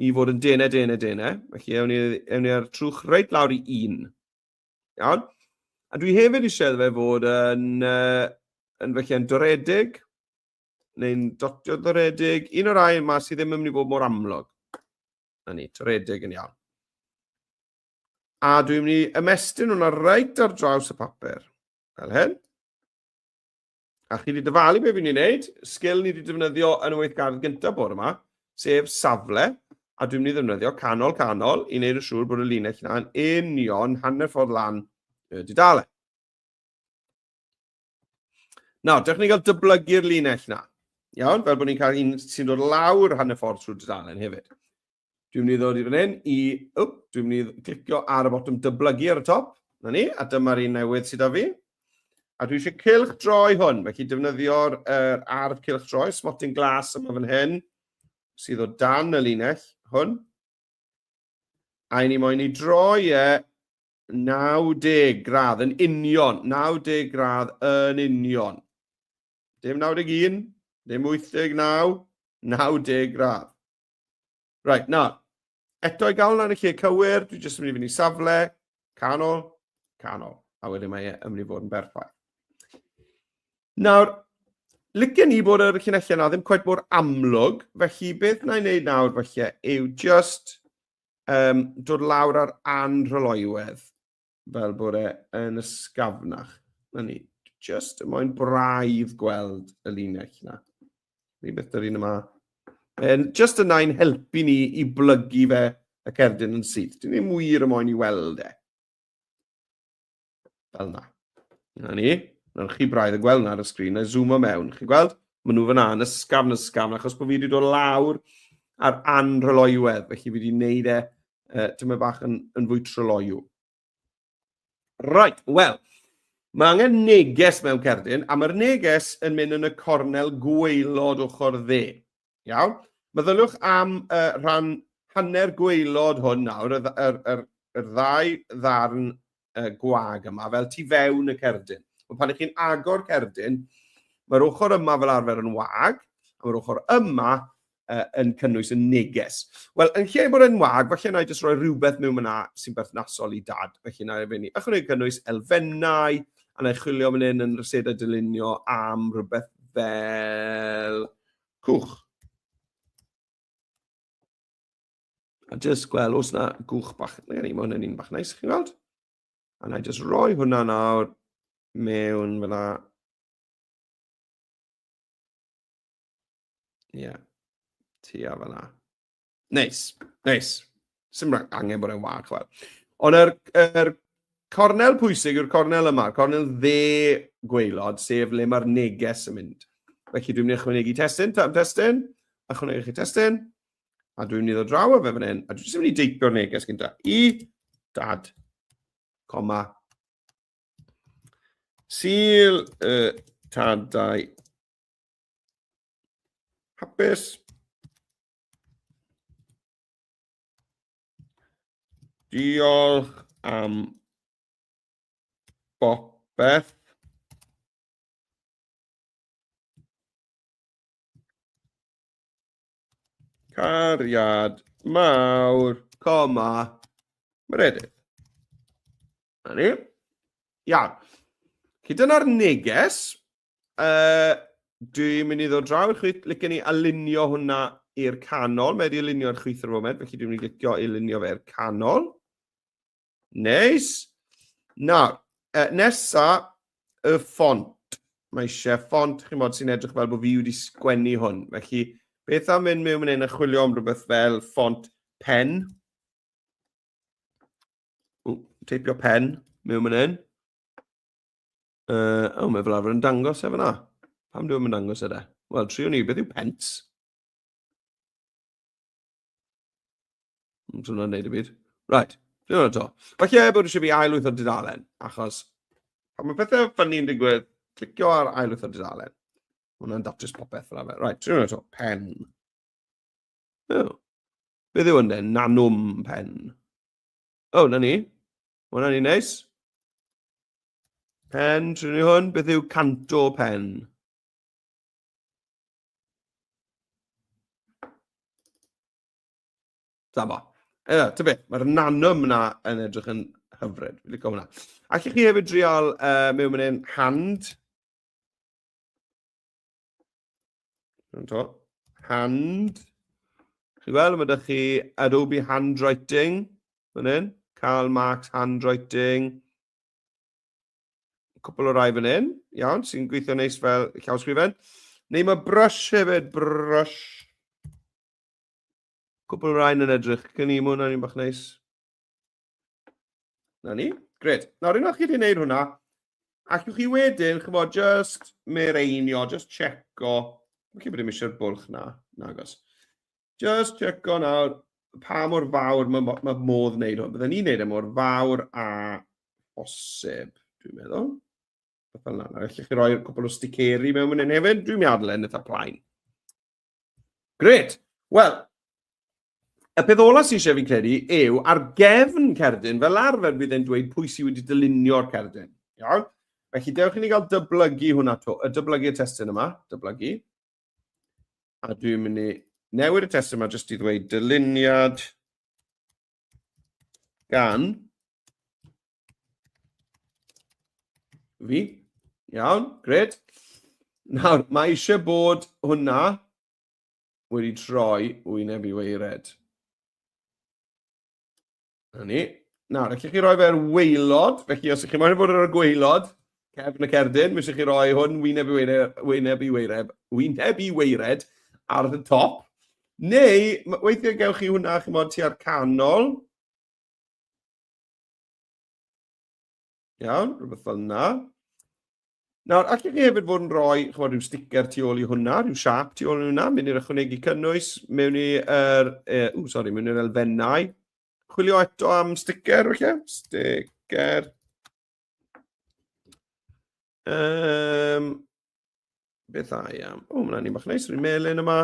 i fod yn denau, denau, denau. Felly, ewn ni, ewn ni ar trwch reit lawr i un. Iawn? A dwi hefyd eisiau fe fod yn, uh, yn felly yn doredig, neu'n dotio toredig, un o'r rhai yma sydd ddim yn mynd i fod mor amlwg. Na ni, toredig yn iawn. A dwi'n mynd i ymestyn hwnna reit ar draws y papur, fel hyn. A chi wedi dyfalu beth fi'n ei wneud, sgil ni wedi defnyddio yn y weithgardd gyntaf bod yma, sef safle, a dwi'n mynd i ddefnyddio canol canol i wneud yn siŵr bod y linell yna'n union hanner ffordd lan y dudalen. Nawr, dewch ni gael dyblygu'r linell na. Iawn, fel bod ni'n cael un sy'n dod lawr hanner ffordd trwy dudalen hefyd. Dwi'n mynd i ddod i fan hyn i... Wp, dwi'n mynd i clicio ar y botwm dyblygu ar y top. Na ni, a dyma'r un newydd sydd â fi. A dwi eisiau cilch droi hwn, felly defnyddio'r er, ardd cilch droi, smotyn glas yma fan hyn, sydd o dan y linell hwn. A i ni moyn i droi e 90 gradd yn union, 90 gradd yn union. Dim 91, dim 89, 90 gradd. Right, na. Eto i gael hwnna yn y lle cywir, dwi jyst yn mynd i fynd i safle, canol, canol. A wedyn mae e yn mynd i fod yn berffaith. Nawr, licen ni bod yr llinellau yna ddim cwet mor amlwg, felly beth na i wneud nawr felly yw just um, dod lawr ar anrhyloywedd fel bod e yn ysgafnach. Na ni, just y moyn braidd gweld y linell yna. Rhywbeth dyr un yma. Um, just yna i'n helpu ni i blygu fe y cerdyn yn syth. Dwi'n ei mwyr y moyn i weld e. Fel na. Na ni. Nawr chi braidd yn gweld na ar y sgrin, na zoom o mewn. Chi'n gweld? Mae nhw fyna yn ysgafn, ysgafn, achos bod fi wedi dod lawr ar anrhyloiwedd, felly fi wedi gwneud e uh, tyma bach yn, yn fwy tryloiw. Right, wel, mae angen neges mewn cerdyn, a mae'r neges yn mynd yn y cornel gweilod ochr dde. Iawn? Meddyliwch am y rhan hanner gweilod hwn nawr, y, y, y, y ddau ddarn y gwag yma, fel tu fewn y cerdyn. Ond pan ych chi'n agor cerdyn, mae'r ochr yma fel arfer yn wag, a mae'r ochr yma uh, yn cynnwys yn neges. Wel, yn lle bod yn wag, felly yna i jyst roi rhywbeth mewn yna sy'n berthnasol i dad. Felly yna i fyny. Ychwanegu cynnwys elfennau, a na i chwilio fan hyn yn rhysedau dylunio am rhywbeth fel Cwch. A just gweld os na gwch bach. Mae gen i, mae hwnna'n un bach neis, chi'n gweld? A na i just roi hwnna nawr mewn fel la. Ie, yeah. tua fel la. Neis, neis. Sym angen bod e'n wag, chwel. Ond yr, yr cornel pwysig yw'r cornel yma, cornel dde gweilod, sef le mae'r neges yn mynd. Felly dwi'n mynd i ychwanegu testyn, tam testyn, ychwanegu chi testyn, a dwi'n mynd i ddod draw o fe fan hyn, a dwi'n mynd i deipio'r neges gyda i dad, coma, Sil y tadau Hapus. Diolch am bopeth. Cariad mawr, coma, Meredydd. Na ni. Iawn. Felly dyna'r neges. Uh, dwi'n mynd i ddod draw i'r chwyth, licen ni alinio hwnna i'r canol. Mae wedi alinio i'r chwyth ar y foment, felly dwi'n mynd i licio i alinio fe'r canol. Neis. Nawr, uh, nesa, y ffont. Mae eisiau ffont, chi'n bod, sy'n edrych fel bod fi wedi sgwennu hwn. Felly, beth am mynd mewn yn chwilio am rhywbeth fel ffont pen? teipio pen mewn yn un. Uh, oh, mae fel arfer yn dangos efo na. Pam dwi'n mynd dangos yna? E Wel, tri o ni, beth yw pens? Dwi'n hwnna'n neud y byd. Right, dwi'n hwnna to. Falle bod eisiau fi ailwyth o'r dudalen, achos pan mae pethau ffynnu'n digwydd, clicio ar ailwyth o'r dudalen. Hwna'n datrys popeth fel arfer. Right, dwi'n hwnna to. Pen. Oh. Beth yw hwnna? Nanwm pen. Oh, na ni. Mae hwnna'n un neis. Pen, trwy ni hwn, beth yw canto pen? Da bo. Ewa, ta beth, mae'r nanwm yna yn edrych yn hyfryd. Fi'n licio hwnna. Ac i chi hefyd drial uh, mewn mynd hand. Yn to. Hand. Chi weld, mae ydych chi Adobe Handwriting. Fan hyn. Karl Marx Handwriting. Cwpl o rai fan hyn. Iawn, sy'n gweithio neis fel llawsgrifen. Neu mae brush hefyd. Brush. Cwpl o rai yn edrych. Cyn i mwyn o'n i'n bach neis. Na ni. Gred. Nawr, unwaith chi wedi gwneud hwnna, allwch chi wedyn, chyfo, just merenio, just checo. Mae'n chi bod dim eisiau'r bwlch na, nagos. Just checo nawr pa mor fawr mae ma modd wneud hwn. Byddwn ni'n wneud e mor fawr a bosib, dwi'n meddwl. Byddwn yna. Felly chi roi cwbl o sticeri mewn mynd hyn hefyd. Dwi'n meddwl yn eitha plaen. Gret. Wel, y peth olaf sy'n eisiau fi'n credu yw ar gefn cerdyn, fel arfer bydd e'n dweud pwy sydd wedi dylunio'r cerdyn. Iawn? Felly, dewch i ni gael dyblygu hwnna to, y dyblygu y testyn yma, dyblygu. A dwi'n mynd i newid y testyn yma jyst i ddweud dyluniad gan Fi? Iawn, gred. Nawr, mae eisiau bod hwnna wedi troi wyneb i weired. Na ni. Nawr, allwch chi roi fe'r weilod, felly os ych chi'n moyn bod ar y gweilod, cefn y cerdyn, mi eisiau chi roi hwn wyneb i weired, wyneb i weired, wyneb i weired ar y top. Neu, weithiau gewch chi hwnna, chi'n modd, tua'r canol, Iawn, rhywbeth fel yna. Nawr, allwch chi hefyd fod yn rhoi chymod, rhyw sticker tu ôl i hwnna, rhyw siap tu ôl i hwnna, mynd i'r ychwanegu cynnwys, mewn i'r er, uh, sorry, mewn i'r elfennau. Chwilio eto am sticker, felly, sticker. Um, beth a i am? O, mae'n ni bach neis, rwy'n melyn yma.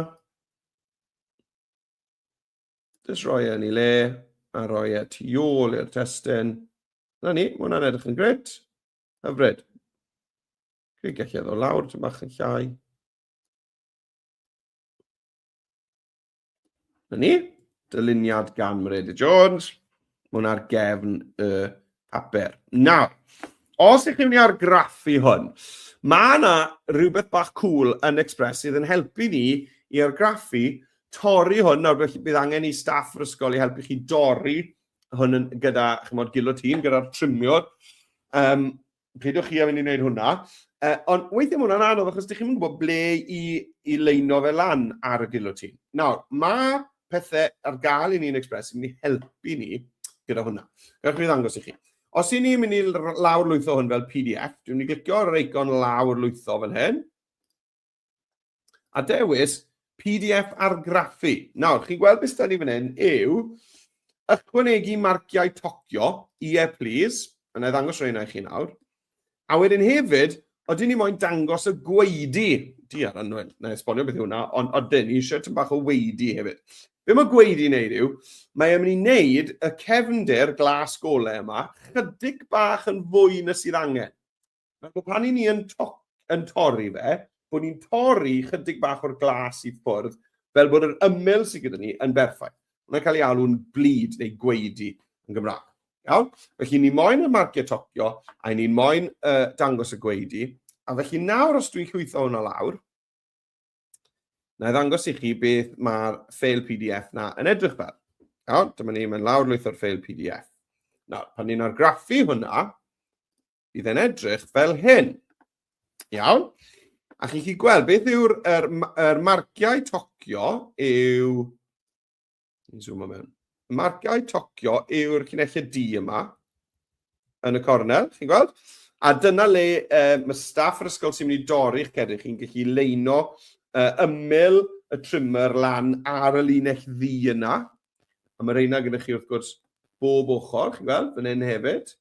Just rhoi e yn ei le a rhoi e tu ôl i'r testyn. Na ni, mae hwnna'n edrych yn gret. Hyfryd. Dwi'n gallu edrych lawr, ti'n bach yn llai. Na ni, dyluniad gan Myreda Jones. Mae hwn ar gefn y papur. Nawr, os ych chi'n mynd i argraffu hwn, mae yna rhywbeth bach cool yn Express sydd yn helpu ni i argraffu, torri hwn, nawr felly bydd angen i staff yr ysgol i helpu chi dorri hwn yn, gyda chymod, gilotîn, gyda'r trimiwr. Um, peidiwch chi a mynd i wneud hwnna. Uh, ond weithiau mae hwnna'n anodd achos ydych chi'n gwybod ble i, i leino fe lan ar y gilotîn. Nawr, mae pethau ar gael i ni yn Express sy'n mynd i helpu ni gyda hwnna. Gallwch chi ddangos i chi. Os i ni'n mynd i lawr lwytho hwn fel PDF, dwi'n mynd i glicio ar yr eicon lawr lwytho fan hyn. A dewis PDF argraffu. Nawr, chi'n gweld beth da ni fan hyn yw ychwanegu marciau tocio, ie yeah, please, a na i ddangos rheina i chi nawr. A wedyn hefyd, oedden ni moyn dangos y gweidi, di ar anwen, na i esbonio beth yw hwnna, ond oedden ni eisiau tyn bach o weidi hefyd. Be mae gweidi yn neud yw, mae e'n mynd i wneud y cefnder glas gole yma chydig bach yn fwy na sydd angen. Fel bod pan i ni yn, to yn torri fe, bod ni'n torri chydig bach o'r glas i ffwrdd, fel bod yr ymyl sydd gyda ni yn berffaith. Mae'n cael ei alw'n blid neu gweidi yn Gymraeg. Iawn? Felly ni moyn y marciau tocio, a ni'n moyn uh, dangos y gweidi. A felly nawr os dwi'n llwytho hwnna lawr, na i ddangos i chi beth mae'r ffeil PDF na yn edrych fel. Iawn? Dyma ni, mae'n lawr lwytho'r ffeil PDF. Nawr, pan ni'n argraffu hwnna, bydd e'n edrych fel hyn. Iawn? A chi'n chi gweld beth yw'r er, er marciau tocio yw... Zoom mewn. Y marciau tocio yw'r cynulliad D yma yn y cornel, chi'n gweld? A dyna le uh, mae staff yr ysgol sy'n mynd i dorri'ch cedrych chi'n gallu leino uh, ymyl y trimmer lan ar y linell ddi yna. A mae reina gyda chi wrth gwrs bob ochr, chi'n gweld, fan hyn hefyd.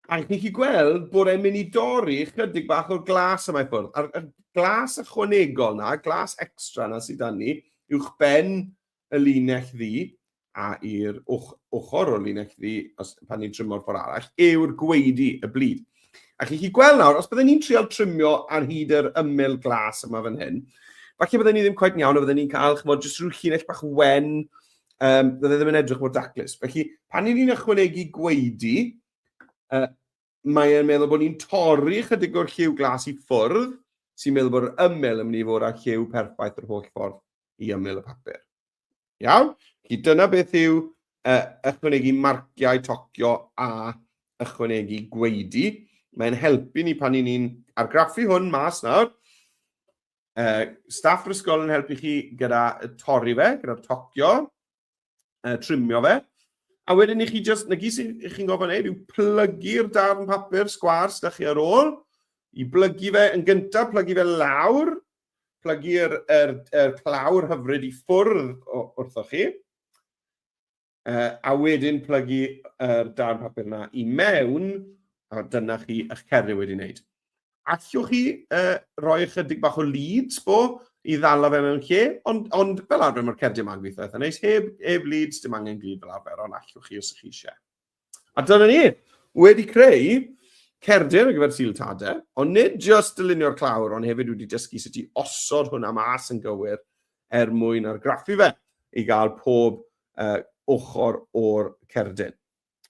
A chi'n chi gweld bod e'n mynd i dorri chydig bach o'r glas yma i ffwrdd. A'r, a'r glas ychwanegol na, glas extra na sydd dan ni, uwch ben y linell ddi, a i'r ochr o'r linell ddi, os pan ni'n trymo'r ffordd arall, yw'r gweidi, y blid. A chi'n chi gweld nawr, os byddwn ni'n trial trymio ar hyd yr ymyl glas yma fan hyn, falle byddwn ni ddim cweit iawn, a byddwn ni'n cael, chymod, jyst rhyw llinell bach wen, um, bydd e ddim yn edrych mor daclus. Felly, pan ni'n ni'n ychwanegu gweidi, uh, mae e'n meddwl bod ni'n torri chydig o'r lliw glas i ffwrdd, sy'n meddwl bod yr ymyl yn mynd i fod â'r lliw perffaith yr holl ffordd i ymyl y papur. Iawn? Felly dyna beth yw uh, ychwanegu marciau tocio a ychwanegu gweidi. Mae'n helpu ni pan ni'n ni'n argraffu hwn mas nawr. Uh, staff yr ysgol yn helpu chi gyda torri fe, gyda'r tocio, uh, trimio fe. A wedyn i chi just, na gyd sy'n chi'n gofyn ei, yw plygu'r darn papur sgwar sydd chi ar ôl, i blygu fe yn gyntaf, plygu fe lawr, plygu'r er, er clawr hyfryd i ffwrdd wrthoch chi. uh, a wedyn plygu yr uh, darn papur yna i mewn, a dyna chi eich cerddi wedi wneud. Allwch chi uh, roi ychydig bach o leads bo i ddala fe mewn lle, ond, ond fel arfer mae'r cerddi yma'n gweithio eitha neis, heb, heb leads, dim angen glid fel arfer, ond allwch chi os ych chi eisiau. A dyna ni, wedi creu cerdyn ar gyfer Sil Tade, ond nid just dylunio'r clawr, ond hefyd wedi dysgu sut i osod hwnna mas yn gywir er mwyn argraffu fe i gael pob uh, ochr o'r cerdyn.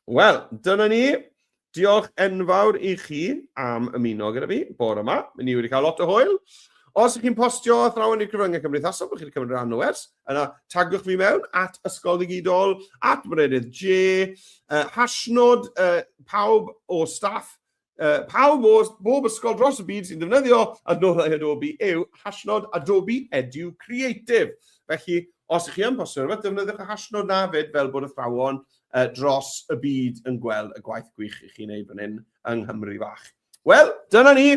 Wel, dyna ni. Diolch enfawr i chi am ymuno gyda fi bore yma. Ni wedi cael lot o hwyl. Os ydych chi'n postio athrawon i'r cyfryngau cymdeithasol, byddwch chi'n cymryd rhan o ers. Yna, tagwch fi mewn at Ysgol Ddigidol, at Merenydd J, uh, hashnod uh, pawb o staff, uh, pawb o bob ysgol dros y byd sy'n defnyddio adnoddau Adobe yw hashnod Adobe Edu Creative. Felly, os ych chi yn postio rhywbeth, defnyddiwch y hashnod na fyd fel bod athrawon uh, dros y byd yn gweld y gwaith gwych i chi'n ei fan hyn yng Nghymru fach. Wel, dyna ni.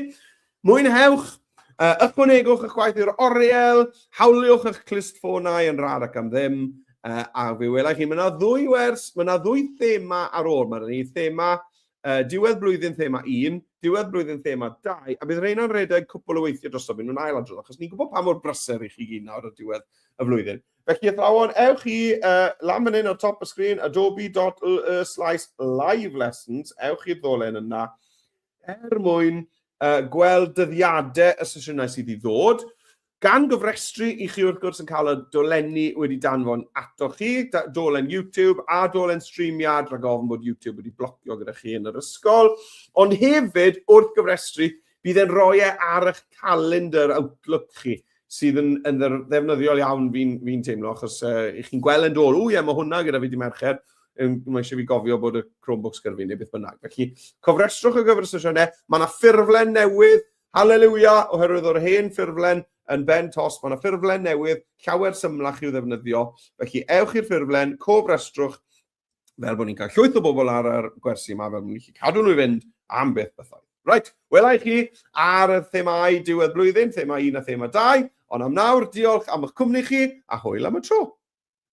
Mwynhewch, uh, ychwanegwch eich gwaith i'r oriel, hawliwch eich clustffonau yn rhad ac am ddim, uh, a fi wela chi, mae yna ddwy wers, mae yna ddwy thema ar ôl, mae yna ni thema uh, diwedd blwyddyn thema 1, diwedd blwyddyn thema 2, a bydd rheina'n rhedeg cwpl o weithiau drosof, yn nhw'n ail adrodd, achos ni'n gwybod pa mor brysur i chi gyd nawr o diwedd y flwyddyn. Felly athrawon, ewch i uh, lan fan hyn o top y sgrin, adobe.ly slash live lessons, ewch i'r ddolen yna, er mwyn uh, gweld dyddiadau y sesiynau sydd i ddod, gan gyfrestru i chi wrth gwrs yn cael y dolenni wedi danfon ato chi, dolen YouTube a dolen streamiad rhag ofn bod YouTube wedi blocio gyda chi yn yr ysgol, ond hefyd wrth gyfrestru bydd e'n rhoi e ar eich calendr Outlook chi. sydd yn, yn ddefnyddiol iawn fi'n fi teimlo, achos uh, i chi'n gweld yn dod, o ie, mae hwnna gyda fi di mercher, mae eisiau fi gofio bod y Chromebooks gyda fi neu beth bynnag. Felly, cofrestrwch y gyfer y sesiynau, mae yna ffurflen newydd, haleluia, oherwydd o'r hen ffurflen yn ben tos, mae yna ffurflen newydd, llawer symlach i'w ddefnyddio. Felly, ewch i'r ffurflen, cofrestrwch, fel bod ni'n cael llwyth o bobl ar yr gwersi yma, fel bod ni'n gallu cadw nhw i fynd am beth bethau. Right, wela i chi ar y themau diwedd blwyddyn, thema un a thema dau, ond am nawr, diolch am eich cwmni chi, a hwyl am y tro.